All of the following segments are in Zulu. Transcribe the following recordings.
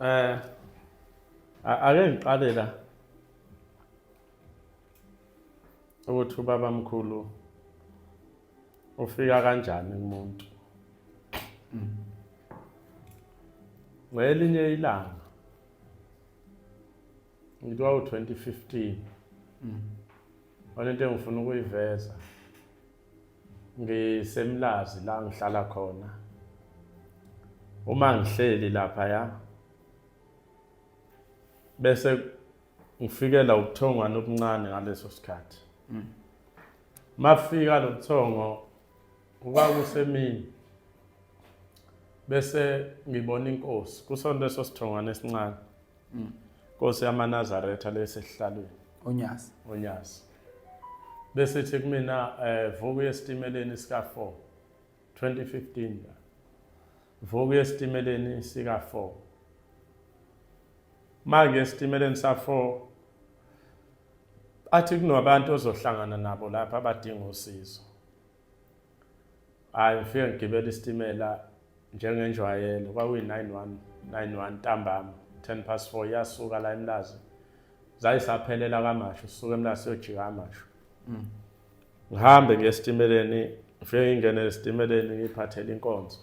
Eh ake ngiqale la ukuthi ubaba mkhulu ufika kanjani kumuntu ngelinye ilanga ngithiwa u-2015 mm. one into engifuna ukuyiveza ngisemlazi la ngihlala khona uma ngihleli lapha ya bese ngifikela ubuthongwana obuncane ngaleso sikhathi mm. mafika lo buthongo kuba kusemini bese ngibona inkosi kusonto esosithongwana esincane Mm. Nkosi yamaNazaretha lesehlalweni. Onyazi. Onyazi. Bese thi kumina eh vuku yesitimeleni sika 4 2015 la. Vuku yesitimeleni sika 4. Manje esitimeleni sa 4 athi kunabantu ozohlangana nabo lapha abadinga usizo. hhayi ngifike ngigibela isitimela njengenjwayelo kwakuyi-nine one nine one ntambama ten past four iyasuka la emlazi zayisaphelela kamasho suke emlazi siyojika amasho mm. ngihambe ngiye esitimeleni ngifike ngingene esitimeleni ngiyiphathele inkonzo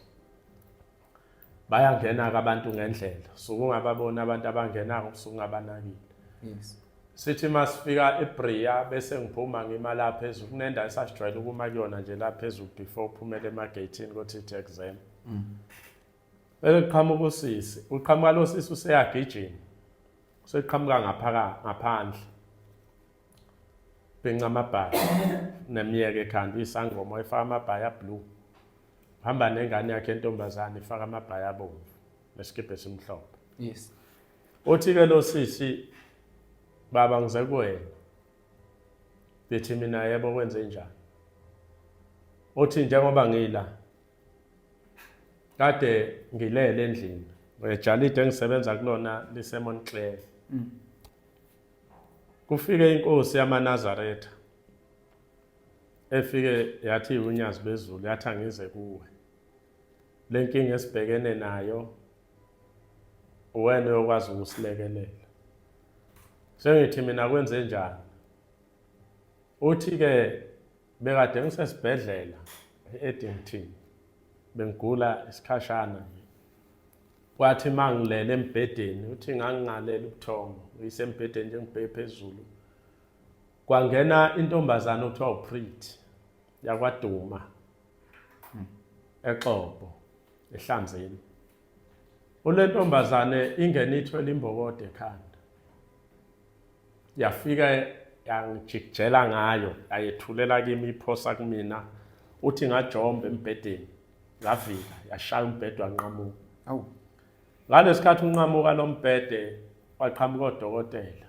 bayangena-ke abantu ngendlela suke ungababoni abantu abangenako usuke ungabanakile yes sithi uma sifika ebria bese ngiphuma ngima la phezulu kunenda esasijwayele ukuma kuyona nje la phezulu before uphumele emageyithini kothi ithi exam mm. bese kuqhamuka usisi uqhamuka lo sisi useyagijima useqhamuka ngaphandle Benca amabhayi nemyeke ekhanda uyisangoma efaka amabhayi ablue. Hamba nengane yakhe entombazane ifaka amabhayi abomvu nesikibhe esimhlophe. Yes. Uthi ke lo sisi baba ngize kuwena. Bethi mina yebo kwenze njani? Uthi njengoba ngila kade ngilele endlini. Ejalide engisebenza kulona liseMontclair. Mm. Kufike inkosi yamaNazaretha efike yathi unyazi bezulu yathi angize kuwe lenkinga esibhekene nayo uwena uyokwazi ukusilekelela sengithi mina kwenze njani uthi ke bekade ngisesibhedlela e-Eddington bengigula isikhashana nje kwathi uma ngilele embhedeni uthi ngangingalele ubuthongo uyisembhedeni nje ngibheke phezulu kwangena intombazane okuthiwa uprit yakwaduma exobo ehlanzeni Unentombazane ingene ithwele imbokode ekhanda. Yafika yangijikijela ngayo, yayethulela kimi iphosa kumina. Uthi ngajomba embhedeni, ngavika, yashaya umbhede wanqamuka. Awu. Ngalesikhathi unqamuka lo mbhede waqhamuka odokotela.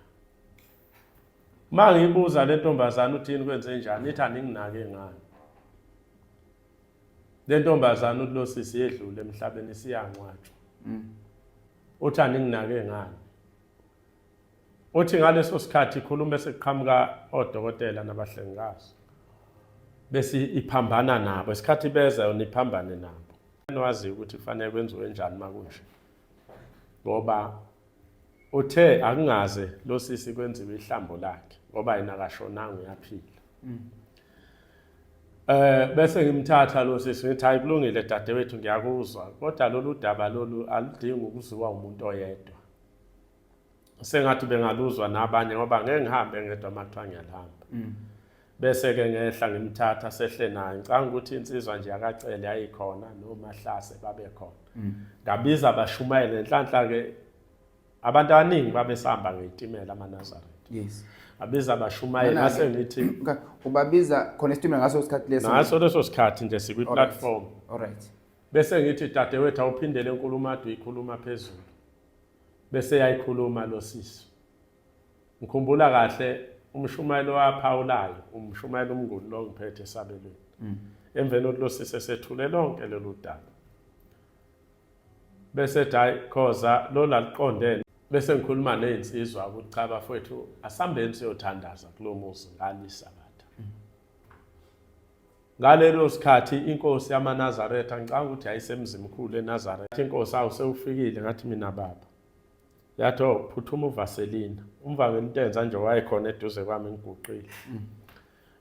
Uma ngiyibuza le ntombazane uthini kwenze njani, ithi aninginake ngani. Le ntombazana uthi lo sisi yedlule emhlabeni isiyangcwatshwa. Mm. Uthi aninginake ngani. Uthi ngaleso sikhathi ikhuluma sekuqhamuka odokotela nabahlengikazi. Bese iphambana nabo isikhathi beza yona iphambane nabo. Nwazi ukuthi kufanele kwenziwe njani makunje. Ngoba Uthe akungaze lo sisi kwenziwe ihlambo lakhe ngoba yena akashonanga uyaphila. Mm. Eh bese ngimthatha lo sisi ngithi hayi kulungile dadewethu ngiyakuzwa kodwa lolu daba lolu aludingi ukuziwa umuntu oyedwa. Sengathi bengaluzwa nabanye ngoba ngeke ngihambe ngedwa makuthiwa ngiyalihamba. Mm. bese-ke ngehla ngimthatha sehle naye ngicanga ukuthi insizwa nje yakacele yayikhona nomahlase babekhona mm. ngabiza abashumayele nhlanhla-ke abantu abaningi babesihamba ngey'timela amanazaretha yes abiza abashumayeli ngase ngithi ubabiza khona isitimela ngaso sikhathi leso ngaso leso sikhathi nje sikwi-platform alright bese ngithi dadewethu awuphindele enkulumo ade uyikhuluma phezulu bese yayikhuluma lo sisi ngikhumbula kahle umshumayelo waphawulayo umshumayelo umnguni lo ngiphethe esabelweni mm. emveni kokuthi lo sise sethule lonke lolu daba bese ethi hhayi khoza lo laliqondene bese ngikhuluma ney'nsizwa ukuthi cha bafowethu asihambeni siyothandaza kulo muzi ngalisabatha mm. ngalelo sikhathi inkosi yamanazaretha ngicanga ukuthi yayisemzimkhulu enazaretha inkosi awu sewufikile ngathi mina baba yathi o oh, phuthuma uvaselina umvangela into enza nje wayekhona eduze kwami ngiguqile mm.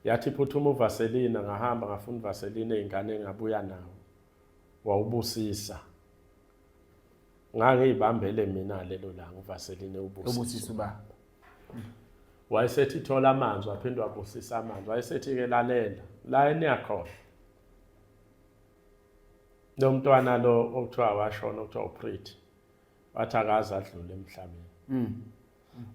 yathi phuthuma uvaselina ngahamba ngafuna uvaselina ey'ngane engabuya nawo wawubusisa ngangiyibambele mina lelo langa uvaselina ubusisa uba wayesethi thola amanzi waphinde wabusisa amanzi wayesethi-ke lalela la eniyakhona lo mntwana lo okuthiwa washona okuthiwa upriti wathi akaze adlule emhlabeni mm.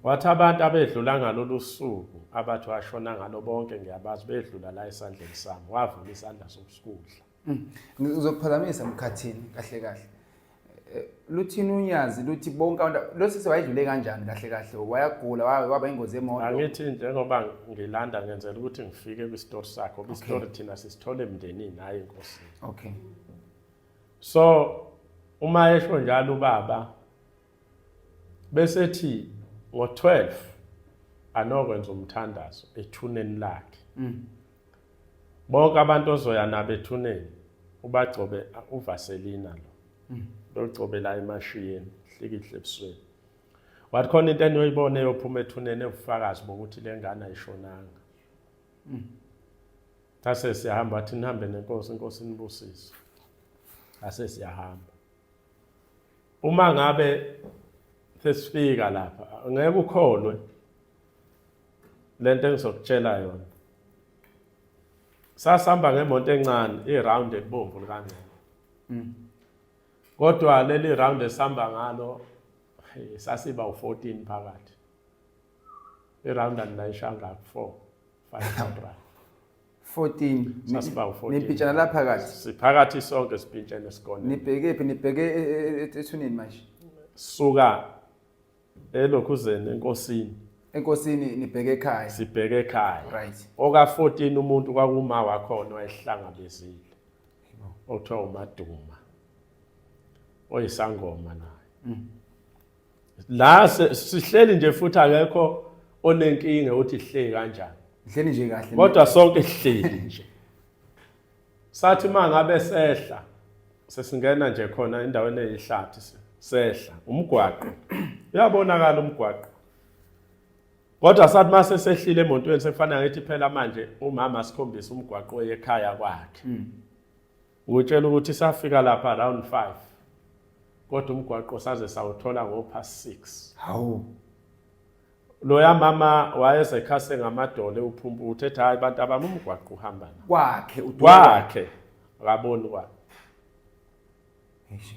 wathi abantu abedlula ngalolu suku abathi washona ngalo bonke ngiyabazi bedlula la esandleni sami wavula isandla sokusikudla mm. ngizokuphazamisa mkhathini kahle kahle eh, luthini unyazi luthi bonke abantu losisi wayedlule kanjani kahle kahle wayagula waba ingozi yemoto angithi njengoba ngilanda ngenzela ukuthi ngifike kwi-story sakho kwi-story thina sisithole emndenini hhayi enkosini okay so uma esho njalo ubaba bese thi ngo-12 anokwenza umthandazo ethuneni lakhe mm. bonke abantu ozoya nabo ethuneni ubagcobe uvaselina lo mm. logcobela emashiyeni hlikihle ebusweni wathi khona into eniyoyibona eyophuma ethuneni ebufakazi bokuthi le ngane ayishonanga mm. Ase siyahamba athi nihambe nenkosi, inkosi inibusise. Ase siyahamba. Uma ngabe sesifika lapha, ngeke ukholwe lento engizokutshela yona. Sasihamba ngemonto encane, iround ebomvu likangcebo. Mm. Kodwa leli round esihamba ngalo sasiba u14 phakathi. Iround and nayishanga ku4. 14 nimpintshana la phakathi siphakathi sonke sipintshene esikole nibheke phi nibheke e, e, e, ethuneni manje suka elokhuzeni enkosini enkosini nibheke ekhaya sibheke ekhaya right oka 14 umuntu kwakuma wakhona wayehlangabezile okuthiwa umaduma oyisangoma naye mm. la sihleli nje futhi akekho onenkinga uthi sihleli kanjani sihleli nje kahle kodwa sonke sihleli nje sathi uma ngabe sehla sesingena nje khona endaweni eyihlathi sehla umgwaqo uyabonakala umgwaqo kodwa sathi uma sesehlile emontweni sekufanele ngithi phela manje umama asikhombise umgwaqo oyekhaya kwakhe mm. Ngutshela ukuthi safika lapha around 5 kodwa umgwaqo saze sawuthola ngopast 6. Hawu. Loya mama wayesekhase ngamadole uphumpu uthetha hayi abantu abami umgwaqo uhamba na. Kwakhe uDuka. Kwakhe. Akaboni kwakhe. Eish.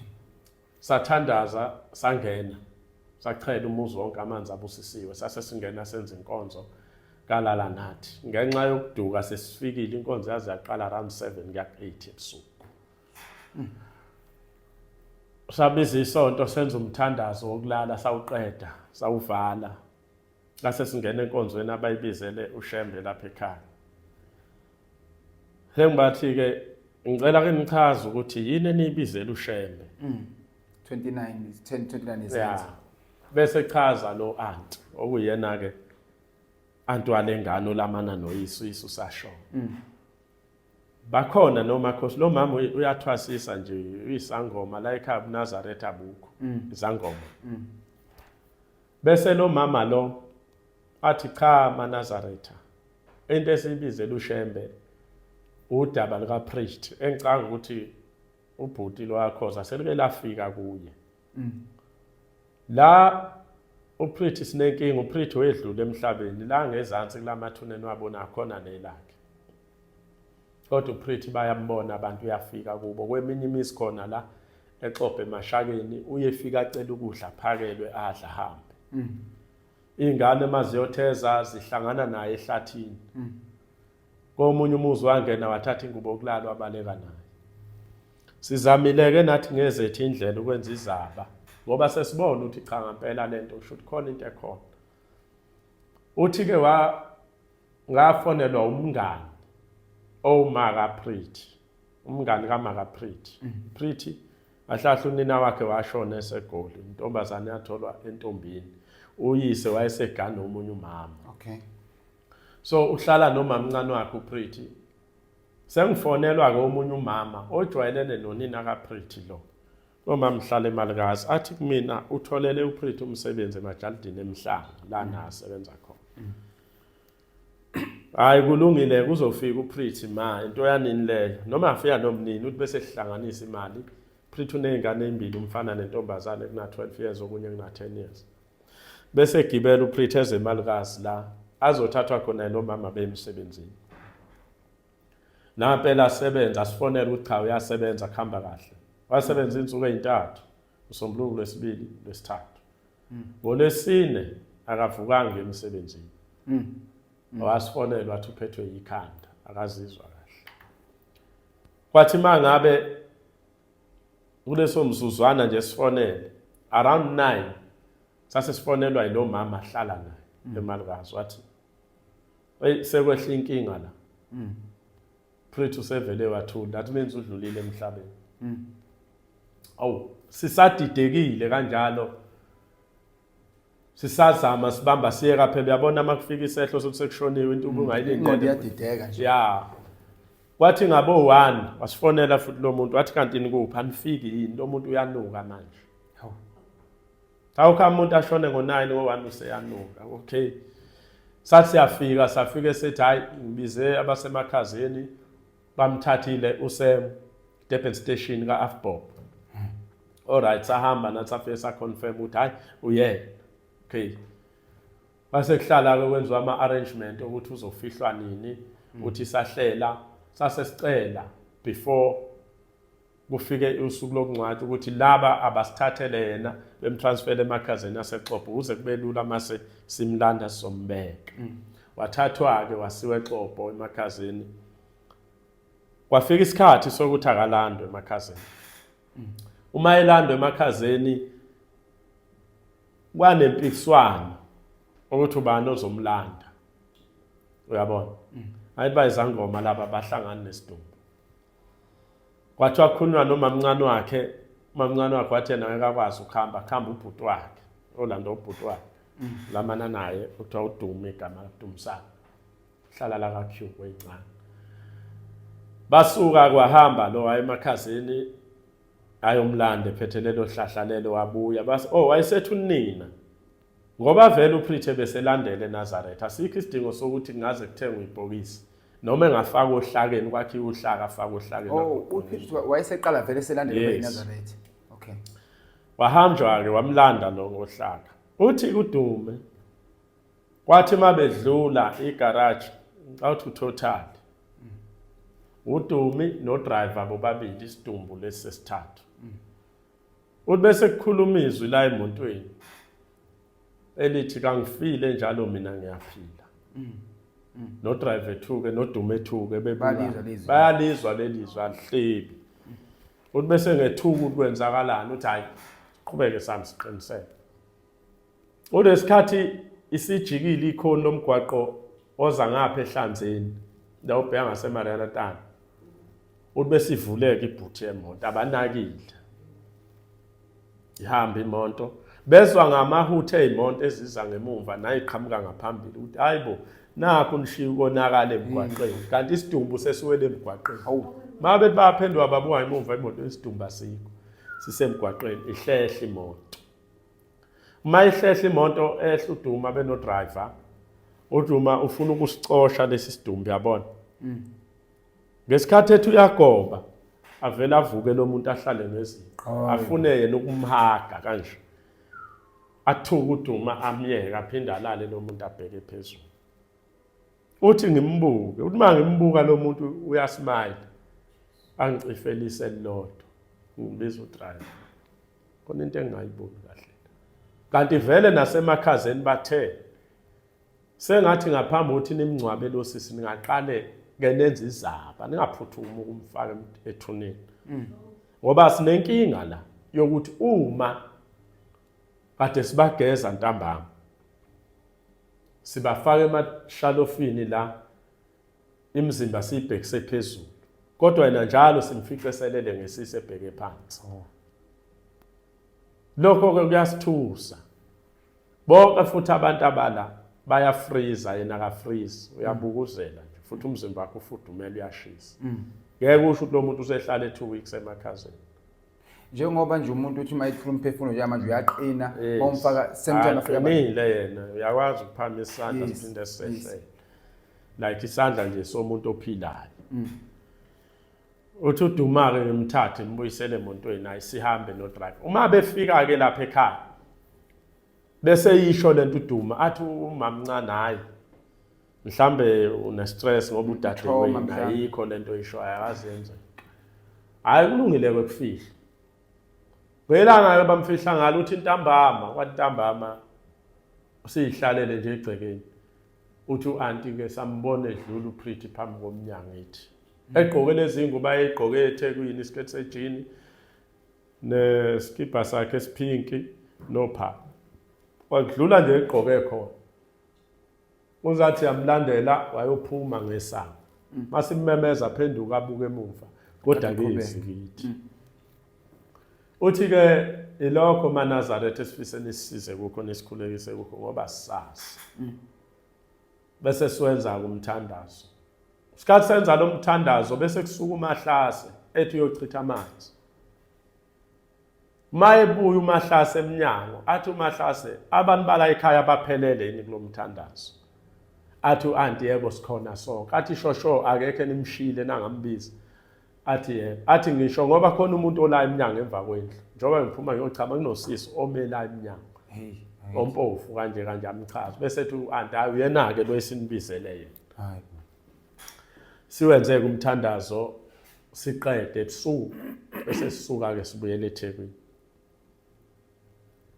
Sathandaza sangena sachela umuzi wonke amanzi abusisiwe sase singena senza inkonzo kalala nathi ngenxa yokuduka sesifikile inkonzo yaze yaqala around 7 kuya 8 ebusuku sabiza isonto senza umthandazo wokulala sawuqeda sawuvala Ngase singena enkonzweni abayibizele uShembe lapha ekhaya. Sengibathi ke ngicela ke nichaze ukuthi yini eniyibizela uShembe. Mm. 29 10 29 is yeah. Bese chaza lo aunt okuyena ke antu alengane olamana noyisu isu sasho. Mm. Bakhona noma khosi lo mama uyathwasisa nje uyisangoma la ekhaya uNazaretha bukho. Mm. Izangoma. Mm. Bese lo mama lo athi cha manazaretha into esibizela ushembe udaba lika priest engicanga ukuthi ubhuti lwakhoza selike lafika kuye mm. la uprithi sinenkinga uprithi wedlule emhlabeni la ngezansi kulamathuneni wabona khona nelakhe kodwa uPretty bayambona abantu uyafika kubo kweminye imizi khona la exobhe emashakeni uyefika acela ukudla phakelwe adla hambe mm. iy'ngane uma ziyotheza zihlangana naye ehlathini mm. komunye umuzi wangena wathatha ingubo yokulala wabaleka naye sizamile-ke nathi ngezethu indlela ukwenza izaba ngoba sesibona ukuthi cha ngampela le nto kusho ukuthi khona into ekhona uthi-ke ngafonelwa umngani owumaka Pretty umngani kamaka Pretty mm. Pretty ahlahla unina wakhe washona esegoli intombazane yatholwa entombini uyise wayesegana omunye umama okay so uhlala nomamncane wakhe uPretty sengifonelwa ke omunye umama ojwayelene nonina kaPretty lo Noma mhlale malikazi athi kumina utholele uPrith umsebenzi emajalidini emhlanga lana mm. asebenza khona. Mm. Hayi kulungile kuzofika uPrith ma into yanini leyo noma afika nomnini uthi bese sihlanganisa imali. Prith unezingane ezimbili umfana nentombazane kuna 12 years okunye kuna 10 years. Bese gibela uPrith ezemalikazi la azothathwa khona nomama bemsebenzini. Nampela asebenza asifonele ukuthi cha uyasebenza kuhamba kahle. Wasebenza insuku ezintathu usombuluko lwesibili lwesithathu. Hmm. Ngolesine akavukanga emsebenzini. Mhm. Wasifonela wathi uphethwe yikhanda akazizwa kahle. Kwathi mangabe kuleso mzuzwana nje sifonele around 9 sase sifonelwa yilo mama ahlala naye hmm. emalikazi wathi Hey sekwehla inkinga la. Mm. Prethu sevele wathula. That means udlulile emhlabeni. Mm. Awu sisadidekile kanjalo. Sisazama sibamba siyeka phela uyabona makufika isehlo sokuthi sekushoniwe into mm. ungayilindele. Inqondo iyadideka nje. Yeah. Wathi ngabo 1 wasifonela futhi lo muntu wathi kanti nikuphi anifiki yini lo muntu uyanuka manje. Awukho umuntu ashone ngo-9 wo-1 useyanuka. Okay. Sathi siyafika safike sethi hayi ngibize abasemakhazeni bamthathile usem Durban station ka Afbob. All right sahamba nathi safike sa confirm ukuthi hayi uyena. Okay. Base kuhlala ke kwenziwa ama arrangement ukuthi uzofihlwa nini, uthi sahlela sase sicela before kufike usuku lokungcwatshwa ukuthi laba abasithathele yena bemtransfele emakhazeni asexopo kuze kube lula mase simlanda sizombeka mm. wathathwa-ke wasiwa exopo emakhazeni kwafika isikhathi sokuthi akalandwe emakhazeni mm. uma elandwe emakhazeni kwanempikiswano ukuthi ubani ozomlanda uyabona mm. ayiba izangoma laba bahlangana nesidumbu wathi wakhulunywa nomamncane wakhe umamncane wakhe wathi yena ngekakwazi ukuhamba kuhamba ubhuti wakhe olanda ubhuti wakhe mm. lamana naye kuthiwa udume igama dumisana hlala la ka-q kweyincane basuka kwahamba lo wayemakhazini ayomlanda ephethelelo hlahlalelo wabuya base oh wayesethu nina Ngoba vele uPrithe beselandela eNazaretha, asikho isidingo sokuthi kungaze kuthengwe ibhokisi noma engafaka ohlakeni kwakhiwa uhlaka afaka ohlakeni. Oh, uPrithe wayeseqala vele eselandela eNazaretha. Okay. Wahamjwa-ke wamlanda lo ngohlaka. Uthi kudume kwathi uma bedlula igaraji ngicawuthi utotal udumi nodriver bobabili isidumbu lesi sesithathu Uthi bese kukhuluma izwi la emotweni elithi kangifile njalo mina ngiyaphila. Mm. Mm. No drive ethuke no dume ethuke bebaliza lezi. Bayalizwa lelizwi alihlebi. Uthi bese ngethuka ukwenzakalani uthi hayi qhubeke sami siqiniseke. Kunesikhathi isijikile ikhona lomgwaqo oza ngapha ehlanzeni la ubheka ngaseMariana Tana. Uthi besivuleke ibhuthi yemoto abanakile. Ihamba imonto bezwa ngamahuthe ezimonto eziza ngemumva nayiqhamuka ngaphambili ukuthi hayibo nakho nishiya ukonakala emgwaqeni mm. kanti isidumbu sesiwele emgwaqeni hawu mabe baphendwa babuka emuva imoto isidumbu asikho sisemgwaqeni ihlehla imoto uma ihlehla imoto ehla uduma benodriver uduma ufuna ukusicosha lesi sidumbu yabona mm. ngesikhathi ethi uyagoba avele avuke lo muntu ahlale neziqo afune yena ukumhaga kanje athuka uduma amyeke aphinde alale lo muntu abheke phezulu uthi ngimbuke uthi uma ngimbuka lo muntu uyasmile angicifelise lodwa ngibiza udriver khona into engingayiboni kahle kanti vele nasemakhazeni bathe sengathi ngaphambi ukuthi nimngcwabe lo sisi ningaqale ke nenze izaba ningaphuthumi ukumfaka ethuneni mm. ngoba sinenkinga la yokuthi uma kade sibageza ntambama sibafaka emashalofini la imizimba siyibhekise phezulu kodwa yena njalo simfice eselele ngesisi ebheke phansi oh. lokho-ke kuyasithusa bonke futhi abantu abala bayafriza yena akafrizi uyabukuzela nje futhi umzimba wakhe ufudumele uyashisa mm. ngeke usho ukuthi lo muntu usehlale two weeks emakhazeni njengoba nje umuntu uthi uma ethula umphefumulo nje manje uyaqina omfaka semthanaqinile yena uyakwazi ukuphamisa isandla siphinde sehle like isandla nje somuntu ophilayo mm. uthi udumake ngimthathe ngibuyisele emontweni hayi sihambe no drive uma befika ke lapha ekhaya bese yisho lento uduma athi umamncane hayi mhlambe une stress ngoba udade wena ayikho lento isho ayazenze hayi kulungile kwekufihla kwelanga ke bamfihla ngalo uthi intambama kwantambama usihlalele nje egcekeni uthi u-anti ke sambona edlula uPretty phambi komnyango ethi mm. egqoke lezingubo ayegqoke eThekwini isiketi sejini neskipa sakhe esiphinki nopha wadlula nje egqoke khona uzathi yamlandela wayophuma ngesango mm. masimemeza phenduka abuke emuva kodwa ke izingithi mm. Uthi ke ilokho maNazaretha esifise nisisize kukho nisikhulekise kukho ngoba sazi. Mm. Bese siwenza kumthandazo. Isikhathi senza lo mthandazo bese kusuka umahlase ethi uyochitha amanzi. Mayebuya umahlase eminyango athi umahlase abantu bala ekhaya baphelele yini kulomthandazo. Athi uanti yebo sikhona sonke. Athi shosho akekho enimshile nangambiza. athi yebo athi ngisho ngoba khona umuntu ola emnyango emva kwendlu njengoba ngiphuma ngiyochama kunosisi omela emnyango ompofu kanje kanje amchaza bese ethi u-anti hayi uyena-ke lo esinibizele yena siwenze-ke umthandazo siqede ebusuku bese sisuka-ke sibuyele ethekwini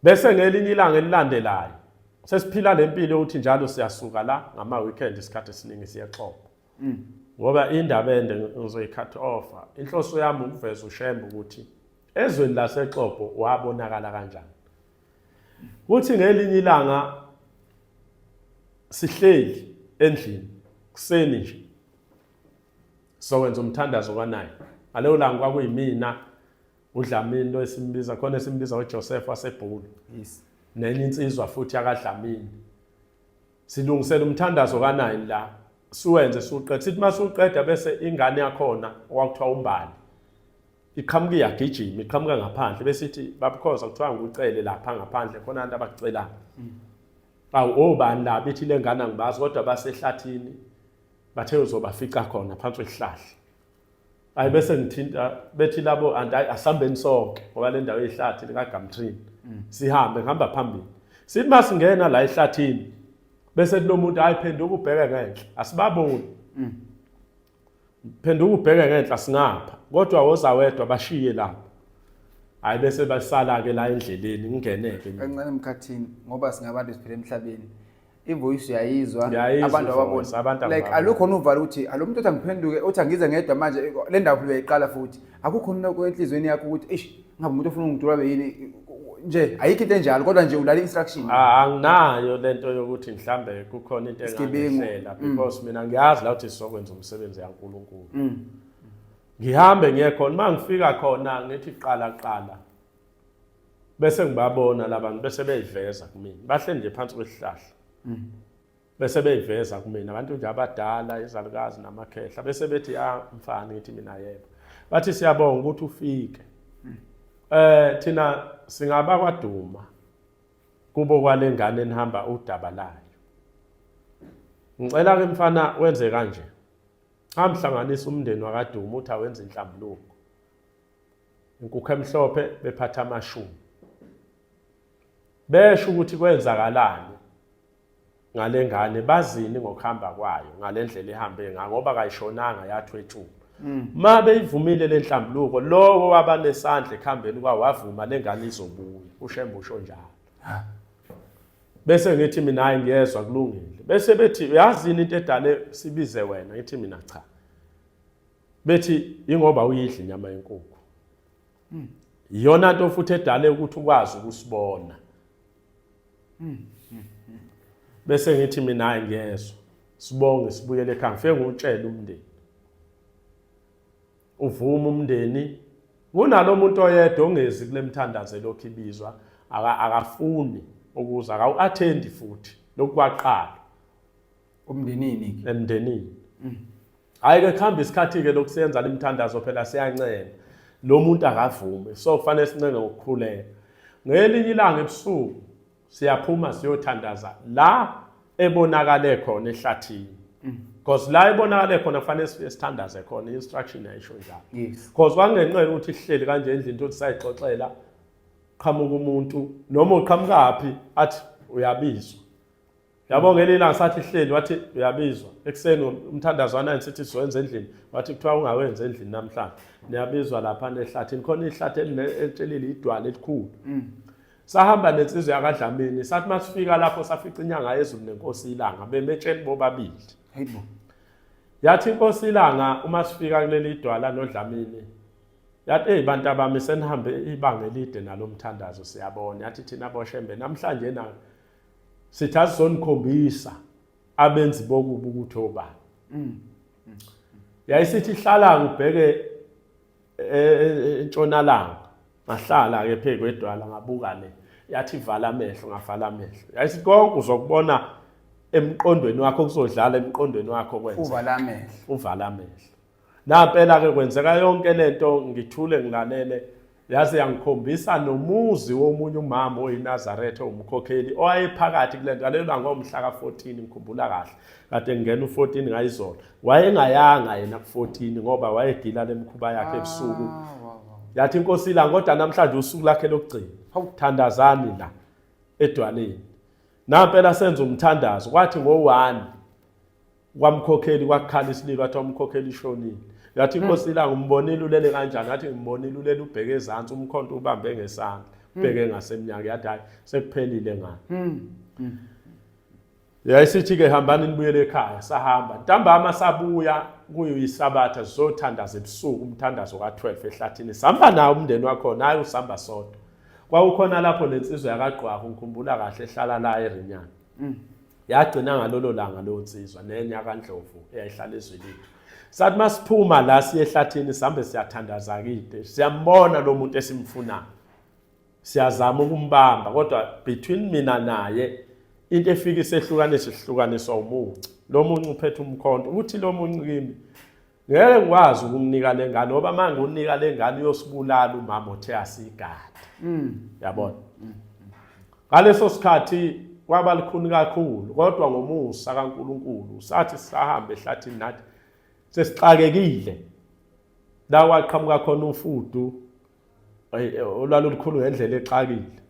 bese ngelinye ilanga elilandelayo sesiphila le mpilo yokuthi njalo siyasuka la ngama-weekend isikhathi esiningi siyaxoxa mm. ngoba indaba ende ngizoyikhathi ofa inhloso yami ukuveza ushembe ukuthi ezweni lasexopo wabonakala kanjani kuthi ngelinye ilanga sihleli endlini kuseni nje sowenza umthandazo kwanaye ngaleyo langa kwakuyimina udlamini lo esimbiza khona esimbiza uJoseph wasebhulu yes nenye insizwa futhi yakadlamini Silungisela umthandazo ka-9 la siwenze siwuqeda sithi uma siwuqeda bese ingane yakhona okwakuthiwa umbali iqhamuka iyagijima iqhamuka ngaphandle bese ithi babukhoza kuthiwa ngikucele lapha ngaphandle khona abantu abakucelayo mm. awu obani la bethi le ngane angibazi kodwa basehlathini bathe uzobafica khona phansi kwesihlahla hayi bese ngithinta bethi labo anti asihambeni sonke ngoba le ndawo eyihlathi likagamtrini mm. sihambe ngihamba phambili sithi uma singena la ehlathini bese kunomuntu hayi phenduka ubheke ngenhla asibaboni mm. phenduka ubheke ngenhla singapha kodwa woza wedwa bashiye lapho hayi bese basala-ke la endleleni ngingeneke encane emkhathini ngoba singabantu siphila emhlabeni ivoice yayizwa Yayizwa abantu ivoice, ababona abantu like ababona. alukho nuvalo ukuthi alo muntu othi angiphenduke othi angize ngedwa manje le ndawo phela uyayiqala futhi akukho noko enhliziyweni yakho ukuthi eish ngabe umuntu ofuna ungidula yini nje ayikho into enjalo kodwa nje ulala instruction Ah, anginayo lento yokuthi mhlambe kukhona into Isigebengu. Mm. engangihlela because mina ngiyazi la ukuthi sizokwenza umsebenzi yaNkulunkulu. Ngihambe ngiye khona mangifika khona ngithi qala qala. bese ngibabona labantu bese beyiveza kumina bahle nje phansi kwesihlahla mm. bese beyiveza kumina abantu nje abadala izalukazi namakhehla bese bethi ya ah, mfana ngithi mina yebo bathi siyabonga ukuthi ufike mm. eh thina singaba kwaduma kubo kwalengane enihamba udaba layo ngicela ke mfana wenze kanje hamhlanganisa umndeni wakaduma uthi awenza inhlambuluko inkukhu emhlophe bephatha amashumi besho ukuthi kwenzakalani ngale ngane bazini ngokuhamba kwayo ngale ndlela ihambe ngayo ngoba kayishonanga yathwetshuka mm. ma beyivumile le nhlambuluko lowo waba nesandla ekuhambeni kwawo wavuma le ngane izobuya ushembe usho njalo bese ngithi mina hayi ngiyezwa kulungile bese bethi uyazini into edale sibize wena ngithi mina cha bethi ingoba uyidla inyama yenkukhu hmm. iyona nto futhi edale ukuthi ukwazi ukusibona hmm. bese ngithi mina hayi ngiyezwa sibonge sibuyele ekhaya ngifike ngutshela umndeni uvuma umndeni kunalo muntu oyedwa ongezi kule mthandazo elokhu ibizwa akafuni ukuza akawu-athendi futhi lokukwaqala umndenini ke emndenini mm. hayi ke khamba isikhathi ke lokusenza limthandazo phela siyancenga lo muntu akavume so kufanele sincenge ngokukhuleka ngelinye ilanga ebusuku siyaphuma siyothandaza la ebonakale khona ehlathini mm. because la ibonakale khona kufanele siye sithandaze khona instruction yayisho njalo because wangenqela ukuthi ihleli kanje endlini into sisayixoxela qhamuka umuntu noma uqhamukaphi athi uyabizwa yabo ngelinye ilanga sathi hleli wathi uyabizwa ekuseni umthandazo wanayo sithi sizowenza endlini wathi kuthiwa ungawenzi endlini namhlanje niyabizwa lapha nehlathini khona ihlathi elitshelile idwala elikhulu mm. sahamba nensizwa yakadlamini sathi uma sifika lapho safica inyanga yezulu nenkosi ilanga bemetsheni bobabili yathi inkosi ilanga uma sifika kuleli idwala nodlamini yathi eyi bantu abami senihambe ibanga elide nalo mthandazo siyabona yathi thina boshembe namhlanje nayo sithi asizonikhombisa abenzi bokubi ukuthi obani mm. yayisithi ihlala kubheke e, e, e, entshonalanga ngahlala ke phezu kwedwala ngabuka le yathi vala amehlo ngavala amehlo yayisithi konke uzokubona emqondweni wakho kuzodlala emqondweni wakho kwenza uvala amehlo uvala amehlo Nampela ke kwenzeka yonke lento ngithule ngilalele yaze yangikhombisa nomuzi womunye umama oyinazaretha owumkhokheli owayephakathi kule nto aleyo langa omhla ka-14 ngikhumbula kahle kade ngingena u-14 ngayizolo wayengayanga yena ku-14 ngoba wayegila le mikhuba yakhe ebusuku ah, yathi inkosi ilanga kodwa namhlanje usuku lakhe lokugcina hawuthandazani la edwaleni nampela senza umthandazo kwathi ngo-one kwamkhokheli kwakhala isililo wathi wamkhokheli ishonile yathi hmm. inkosi ilanga umbonile ulele kanjani yathi ngimbonile ulele ubheke ezantsi umkhonto ubambe ngesandla hmm. ubheke ngasemnyango yathi hayi sekuphelile ngani hmm. yayisithi ke hambani nibuyele ekhaya sahamba ntambama sabuya kuyisabatha sizothandaza ebusuku umthandazo ka-12 ehlathini sihamba nawo umndeni wakhona hayi usihamba sodwa kwawukhona lapho le nsizwa yakagqwaka ngikhumbula kahle ehlala la erinyana yagcina ngalolo langa leyo nsizwa nenye yakandlovu eyayihlala ezwelini sathi uma siphuma la siye ehlathini sihambe siyathandaza kide siyambona lo muntu esimfunayo siyazama ukumbamba kodwa between mina naye into efika isehlukanisa isihlukaniswa umuncu lo muncu uphethe umkhonto ukuthi lo muncu kimi ngeke ngikwazi ukumnika le ngane ngoba uma ngiwunika le ngane uyosibulala umama othe asigade mm. yabona mm. ngaleso sikhathi kwaba likhuni kakhulu kodwa ngomusa kaNkuluNkulu sathi sisahambe ehlathini nathi sesixakekile la waqhamuka khona umfudu olwalulukhulu ngendlela exakile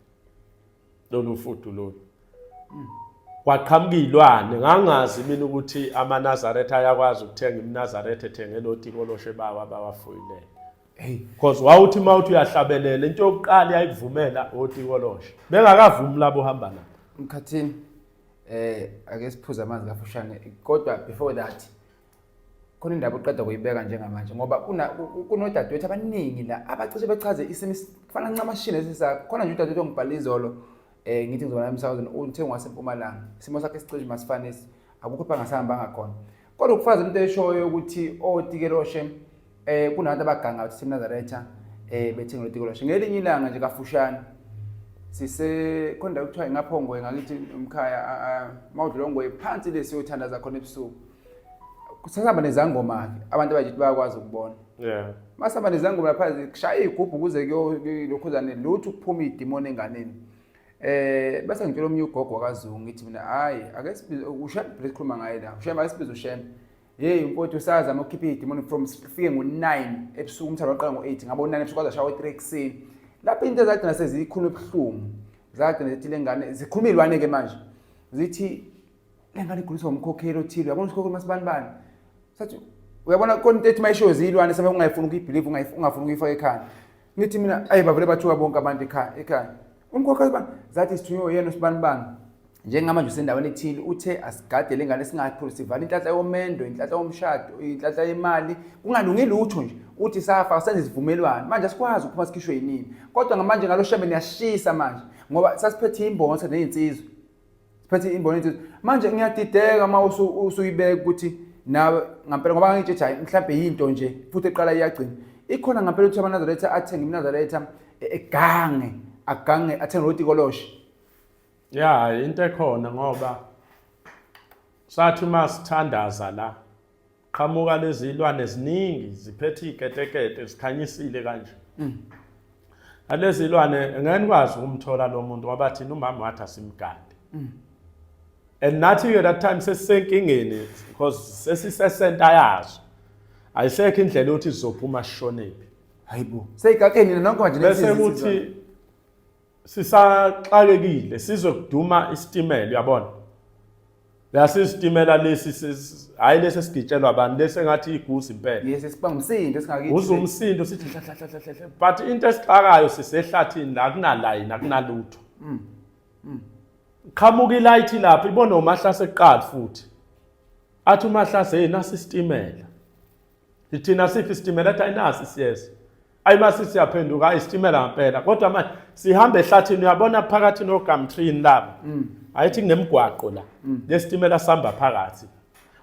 lolu fudu lolu kwaqhamuka iy'lwane ngangazi mina ukuthi amanazaretha ayakwazi ukuthenga imnazaretha ethenge loti koloshe bawo abawafuyilele because wawuthi uma uthi uyahlabelela into yokuqala yayikuvumela oti koloshe bengakavumi labo hamba lapho mkhathini eh ake siphuze amanzi kafushane kodwa before that khona indaba uqeda kuyibeka njengamanje ngoba kunodadewethu abaningi la abacishe bechaze isimo kufana ncamashini esisakho khona nje udadewethu ongibhala izolo um ngithi ngizobana emsakazweni uthe ngwasempumalanga isimo sakhe sicishe masifanisi akukho phangasihambanga khona kodwa ukufazi into eshoyo ukuthi otikeloshe um eh, kunabantu abaganga ukuthi simnazaretha um eh, bethenga lotikeloshe ngelinye ilanga nje kafushane sise khona kuthiwa ingaphongwe ngakithi umkhaya mawudlula ongwe phansi le siyothandaza khona ebusuku kusasaba nezangoma-ke abantu abajithi bayakwazi ukubona yeah masaba nezangoma lapha kushaya iy'gubhu kuze kuyokhuzane lutho ukuphuma idimoni enganeni eh bese ngitshela omunye ugogo wakazungu ngithi mina hayi ake sibize ushembe phela sikhuluma ngaye la ushembe ake sibize ushembe yeyi mfowethu usazama ukukhipha iy'dimoni from sifike ngo-nine ebusuku umthalo waqala ngo-eight ngabo nine ebusuku kwaze ashawa i-three ekuseni lapho into ezagcina seziyikhuluma ebuhlungu zagcina zithi le ngane zikhuluma iy'lwane-ke manje zithi le ngane iguliswa umkhokheli othile uyabona usikhokheli masibanibani sathi uyabona khona into ethi uma ishoyo ziyilwane sebe ungayifuni ukuyibhiliva ungafuni ukuyifaka ekhanda ngithi mina ayi bavele bathuka bonke abantu ekhaya ekhaya umkhokheli bani zathi sithunywe yena usibanibani njengamanje usendaweni ethile uthe asigade le ngane singaphuli sivala inhlanhla yomendo inhlanhla yomshado inhlanhla yemali kungalungi lutho nje uthi safa senze isivumelwano manje asikwazi ukuphuma sikhishwe yinini kodwa ngamanje ngalo shebe niyashisa manje ngoba sasiphethe imbonsa nezinsizwe siphethe imboni ethi manje ngiyadideka uma usuyibeka ukuthi nawe ngampela ngoba ngangitshe hayi mhlawumbe yinto nje futhi eqala iyagcina ikhona ngampela ukuthi amanazaretha athenge imnazaretha e-, egange agange athenge roti koloshe ya into ekhona ngoba sathi uma sithandaza la qhamuka lezi ilwane ziningi ziphethe iketekete zikhanyisile kanje mm. alezi ilwane ngeke nikwazi ukumthola lo muntu ngoba thina umama wathi asimgade mm. and nathi ke that time sesisenkingeni because sesisesenta yazo ayisekho indlela yokuthi sizophuma sishonephi hayibo seyigakeni nonke manje bese kuthi sisaxakekile sizwe kuduma isitimela uyabona yasisitimela lesi hayi lesi esigitshelwa abantu lesi engathi igusi impela yes siba umsindo singakithi uze umsindo sithi hla but into esixakayo sisehlathini la kunalayini akunalutho mm. mm. qhamuka ilayithi lapho ibona umahlase eqala futhi athi umahlase yena sisitimela ithina siphi isitimela athi ayinasi siyeza ayi masi siyaphenduka ayi sitimela ngempela kodwa manje sihambe ehlathini uyabona phakathi nogamtrini laba mm. ayithi kunemgwaqo la mm. lesitimela sihamba phakathi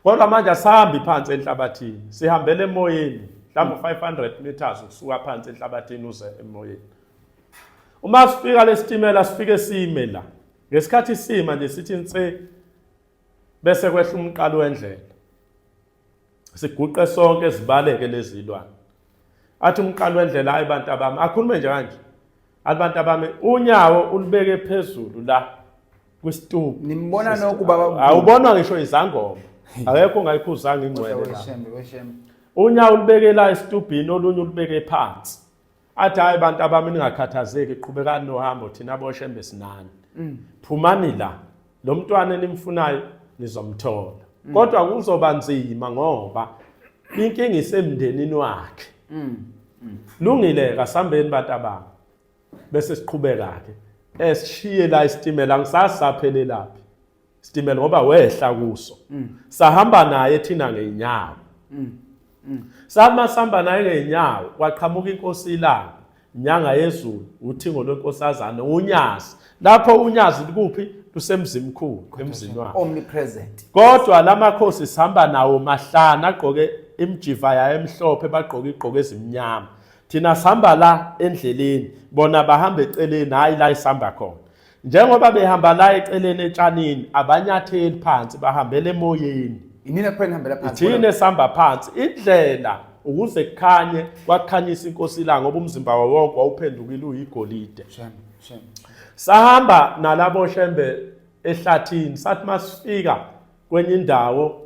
kodwa manje asihambi phansi enhlabathini sihambele emoyeni mhlawumbe mm. 500 meters ukusuka phansi enhlabathini uze emoyeni uma sifika lesitimela sifike sime la ngesikhathi sima nje sithi nse bese kwehla umqalo wendlela siguqe sonke zibaleke lezi zilwane athi umqalo wendlela hayi bantu abami akhulume nje kanje athi bantu abami unyawo ulibeke phezulu la kwisitubu nimbona noku baba awubonwa ngisho izangoma akekho ongayikhuzanga ingcwele la unyawo ulibeke la esitubhini olunye ulibeke phansi athi hayi bantu abami ningakhathazeki qhubekani nohambo thina boshembe sinani mm. phumani la lo mntwana enimfunayo nizomthola mm. kodwa kuzoba nzima ngoba inkinga isemndenini wakhe mm. lungile kasambeni bantu abami bese siqhubeka-ke esishiye la isitimela ngisasaphelelaphi sitimela ngoba wehla kuso mm. sahamba naye thina ngeenyawo mm. mm. sama sihamba naye ngeenyawo kwaqhamuka inkosi ilanga inyanga yezulu uthingo lwenkosazana unyazi lapho unyazi likuphi lusemzimkhulu emzini wakhe omnipresent kodwa lamakhosi sihamba nawo mahlana agqoke imjiva yayo emhlophe bagqoke igqoke ezimnyama thina sihamba la endleleni bona bahamba eceleni hayi la isihamba khona njengoba behamba la eceleni etshanini abanyatheli phansi bahambela emoyeni inina kuphela nihambela phansi ithina esihamba phansi indlela ukuze kukhanye kwakhanyisa inkosi ilanga ngoba umzimba wawo wonke wawuphendukile uyigolide sahamba nalabo shembe ehlathini sathi masifika kwenye indawo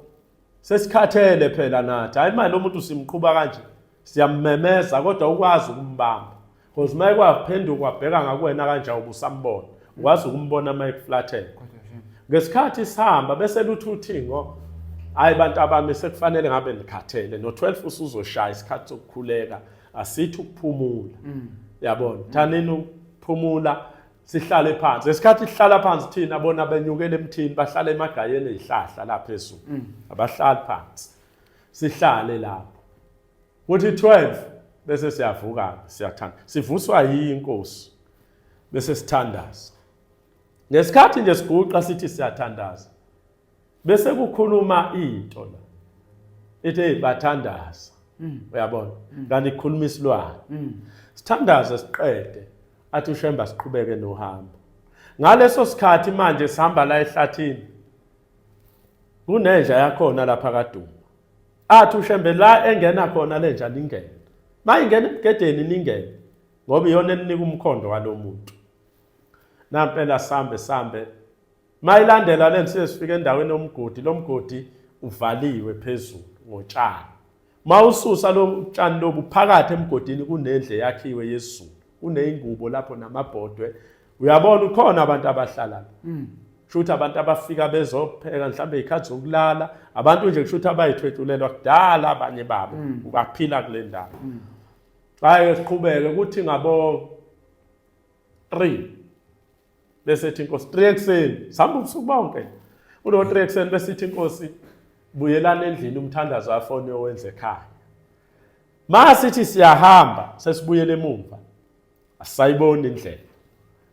sesikhathele phela nathi hayi manje lomuntu simqhuba kanje siyammemeza kodwa ukwazi ukumbamba because maye kwaphenduka wabheka ngakuwena kanje ubusambona ukwazi ukumbona maye kuflathela ngesikhathi sihamba bese luthi uthingo hayi bantu abami sekufanele ngabe nikhathele no-12 usuzoshaya isikhathi sokukhuleka asithi ukuphumula mm. yabona thanini ukuphumula sihlale phansi esikhathi sihlala phansi thina bona benyukela emthini bahlala emagayeni ezihlahla la phezulu mm. abahlali phansi sihlale lapho kuthi 12 bese siyavuka siyathanda sivuswa yinkosi bese sithandaza ngesikhathi nje siguqa sithi siyathandaza bese kukhuluma into la ithi hey bathandaza mm. uyabona mm. kanti ikhuluma isilwane mm. sithandaze siqede athi ushemba siqhubeke nohambo ngaleso sikhathi manje sihamba la ehlathini kunenja yakhona lapha kaduma athi ushembe la engena khona lenja lingene mayingena ebugedeni ningene ngoba iyona elinika umkhondo walomuntu nampela sambe sambe Mayilandela le siye sifika endaweni yomgodi lo mgodi uvaliwe phezulu ngotshani mawususa lo tshani lobu phakathi emgodini kunendle yakhiwe yezulu kuneyingubo lapho namabhodwe uyabona ukhona abantu abahlala mm. shuthi abantu abafika bezopheka mhlawumbe izikhathi zokulala abantu nje kushuthi abayithwetshulelwa kudala abanye babo mm. ubaphila kule ndawo mm. hayi siqhubeke ukuthi ngabo 3 besithi inkosi 3 ekseni sihamba ubusuku bonke kulo 3 ekseni besithi inkosi buyelana endlini umthandazo afone owenze ekhaya masithi siyahamba sesibuyele emuva asayiboni indlela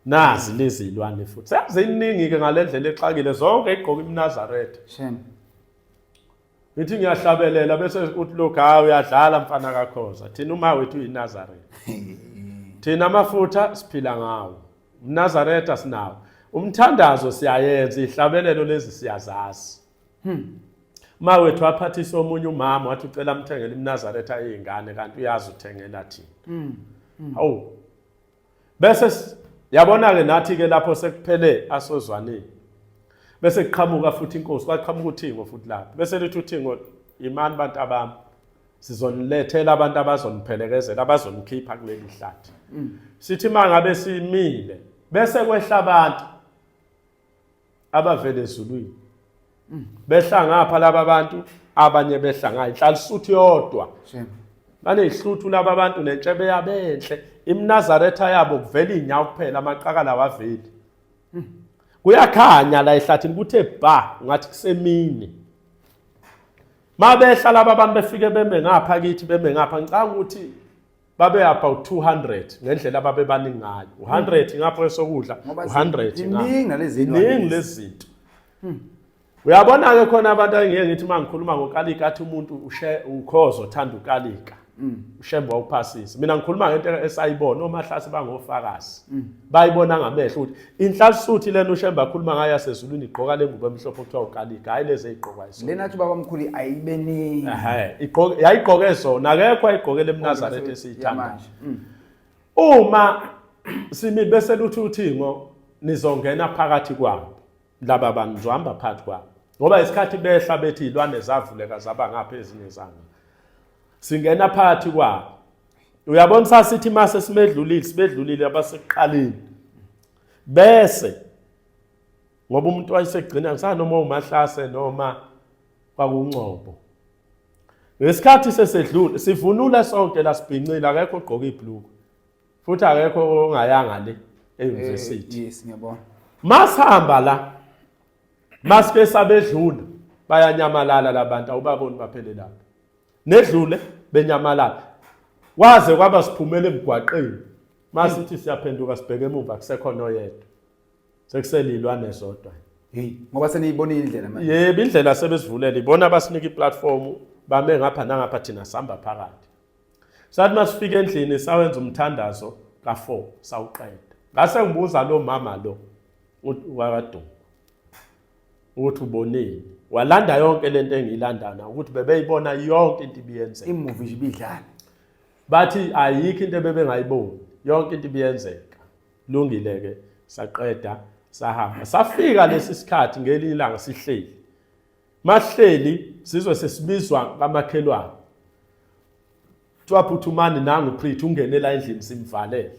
nazi lezi ilwane futhi seziningi ke ngalendlela exakile zonke igqoka imnazaretha shame ngithi ngiyahlabelela bese uthi lokhu hayi uyadlala mfana kakhoza thina uma wethu uyinazareth thina amafutha siphila ngawo umnazaretha sinawo umthandazo siyayenza ihlabelelo lezi siyazazi hmm. ma wethu aphathisa omunye umama wathi ucela amthengele imnazaretha eyingane kanti uyazi uthengela thina hmm. hmm. hawu bese yabona-ke nathi-ke lapho sekuphele asozwanile bese kuqhamuka futhi inkosi kwaqhamuka uthingo futhi lapho bese lithi uthingo imani bantu abami sizonilethela abantu abazoniphelekezela abazonikhipha kuleli hlathi mm. sithi mangabe simile bese kwehla abantu abavele ezulwini mm. behla ngapha laba bantu abanye behla ngayo inhlala isuthu yodwa banezihluthu laba bantu nentshebe yabo enhle imnazaretha yabo kuvela inyawo kuphela amaqakala waveli mm. kuyakhanya la ehlathini kuthe ba ngathi kusemini mabehla laba abantu befike beme ngapha kithi beme ngapha ngicanga ukuthi babe about 200 ngendlela ababebaningi ngayo u100 hmm. ngapha kwesokudla u100 iningi nalezi iningi lezinto hmm. uyabona ke khona abantu angeke ngithi mangikhuluma ngokalika athi umuntu ushe ukhozo thanda ukalika hmm. ushembe wawuphasisa mina ngikhuluma ngento esayibona omahlase bangofakazi bayibona ngamehlo ukuthi Inhlalsuthi lena uShembe akhuluma ngayo yasezulwini igqoka lengubo emhlophe okuthiwa ukalika hayi lezi eyigqokwa iso. Lena athi baba mkhulu ayibe ningi. Ehhe igqoke yayigqoke zona akekho ayigqokele eMnazareth esiyithanda. Mm. Uma simi bese luthi uthingo nizongena phakathi kwabo laba bantu ngizohamba phakathi kwabo ngoba isikhathi behla bethi izilwane zavuleka zaba ngapha ezinye zanga singena phakathi kwabo uyabona sasithi mase simedlulile sibedlulile abasekuqaleni bese ngoba umuntu wayesegcina kusanoma umahlase noma kwakungcobo ngesikhathi sesedlule sivunule sonke lasibhincile akekho ogqoka ibhluku futhi akekho ongayanga le e-university eh, yes ngiyabona masihamba la masike sabedlula bayanyamalala labantu awubaboni baphele lapho nedlule benyamalala kwaze kwaba siphumela emgwaqeni masithi siyaphenduka sibheke emuva kusekho noyedwa sekuselilwane zodwa hey ngoba seniyibonile indlela manje yebo indlela sebesivulela ibona abasinika iplatform bame ngapha nangapha thina sihamba phakathi sathi masifika endlini sawenza umthandazo ka4 sawuqeda ngase ngibuza lo mama lo wakaduma ukuthi uboneni walanda yonke lento engiyilandana ukuthi bebeyibona yonke into ibiyenzeka imuvi nje ibidlala bathi ayikho into ebebengayiboni yonke into ibiyenzeka lungile ke saqeda sahamba safika lesi sikhathi ngelinye ilanga sihleli mahleli sizwe sesibizwa kamakhelwane kuthiwa phuthumani nangu preach ungenela endlini simvalele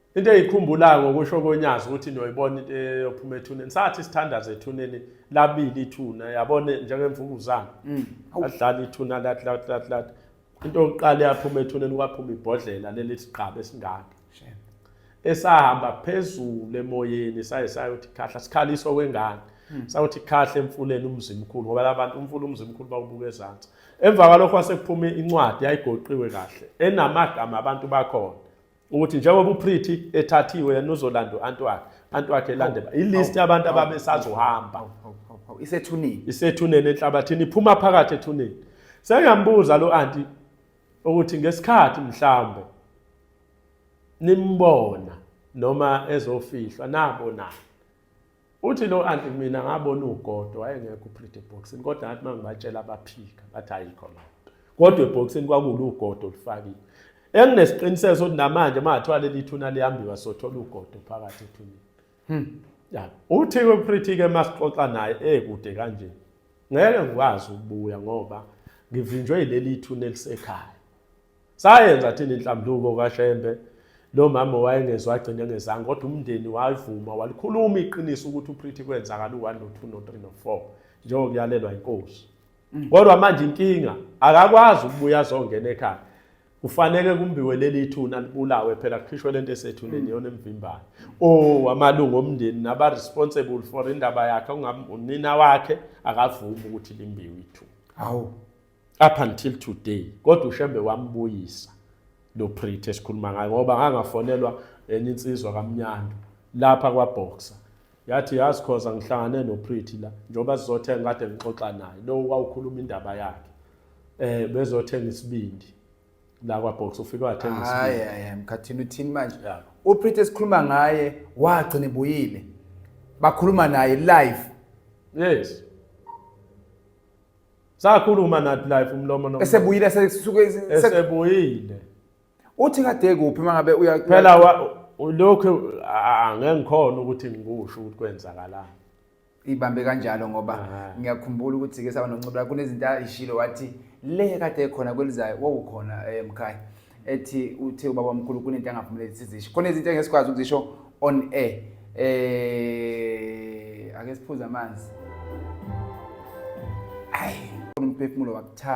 into eyikhumbulayo ngokusho konyazi ukuthi niyoyibona into eyophuma ethuneni sathi sithandaza ethuneni labili ithuna yabona njengemvukuzane mm. adlala ithuna lathi lathi lathi lathi into yokuqala yaphuma ethuneni kwaphuma ibhodlela leli sigqaba esingaka esahamba phezulu emoyeni saye sayothi khahla sikhaliso kwengane mm. sayothi khahla emfuleni umzimkhulu ngoba labantu umfula umzimkhulu bawubuka ezantsi emva kwalokho wasekuphuma incwadi yayigoqiwe kahle enamagama abantu bakhona ukuthi njengoba uPretty ethathiwe yena uzolanda uAntwakhe Antwakhe elande ilist yabantu ababesazohamba isethuneni isethuneni enhlabathini iphuma phakathi ethuneni sengambuza lo anti ukuthi ngesikhathi mhlambe nimbona noma ezofihlwa nabo na Uthi lo anti mina ngabona ugodo wayengekho uPretty eboxini kodwa ngathi uma ngibatshela abaphika bathi ayikho loo nto. Kodwa eboxini kwakulu ugodo olufakile. Enginesiqiniseko sokuthi namanje uma ngathiwa leli thuna liyambiwa sothola ugodo phakathi ethuneni. Hmm. Ya, uthi uPretty-ke uma sixoxa naye ekude eh, kanje. Ngeke ngikwazi ukubuya ngoba ngivinjwe yileli thuna elisekhaya. Sayenza thina inhlambuko kaShembe lo mama wayengezwa agcine ngezange kodwa umndeni wavuma walikhuluma iqiniso ukuthi uPretty kwenzakala u-1 no-2 no-3 no-4 njengokuyalelwa inkosi mm. kodwa manje inkinga akakwazi ukubuya azongena ekhaya kufanele kumbiwe leli thuna libulawe phela kukhishwe lento esethuneni mm. yona emvimbane oh amalungu omndeni naba responsible for indaba yakhe ungamunina wakhe akavumi ukuthi limbiwe ithu hawu up until today kodwa ushembe wambuyisa lo pretty esikhuluma ngayo ngoba ngangafonelwa enye insizwa kamnyando lapha kwaboxer yathi yazi khoza ngihlangane nopretty la njengoba sizothenga kade ngixoxa naye lo wawukhuluma indaba yakhe eh bezothenga isibindi la kwabox ufike wathenga isibindi hayi hayi mkhathini uthini manje upretty esikhuluma ngaye wagcina ebuyile bakhuluma naye live yes Sakhuluma nathi live umlomo nomlomo. Esebuyile sesuke esebuyile. Uthi kade kuphi mangabe uya Phela lokho angeke ngikhona ukuthi ngikusho ukuthi kwenzakalani. Ibambe kanjalo ngoba ngiyakhumbula ukuthi ke saba noncubula kunezinto ayishilo wathi le kade khona kwelizayo wawukhona emkhaya. Eh, ethi uthe ubaba omkhulu kunento angavumeleki sizisho khona izinto engeke sikwazi ukuzisho on air eh ake siphuze amanzi ayi umphefumulo wakuthanda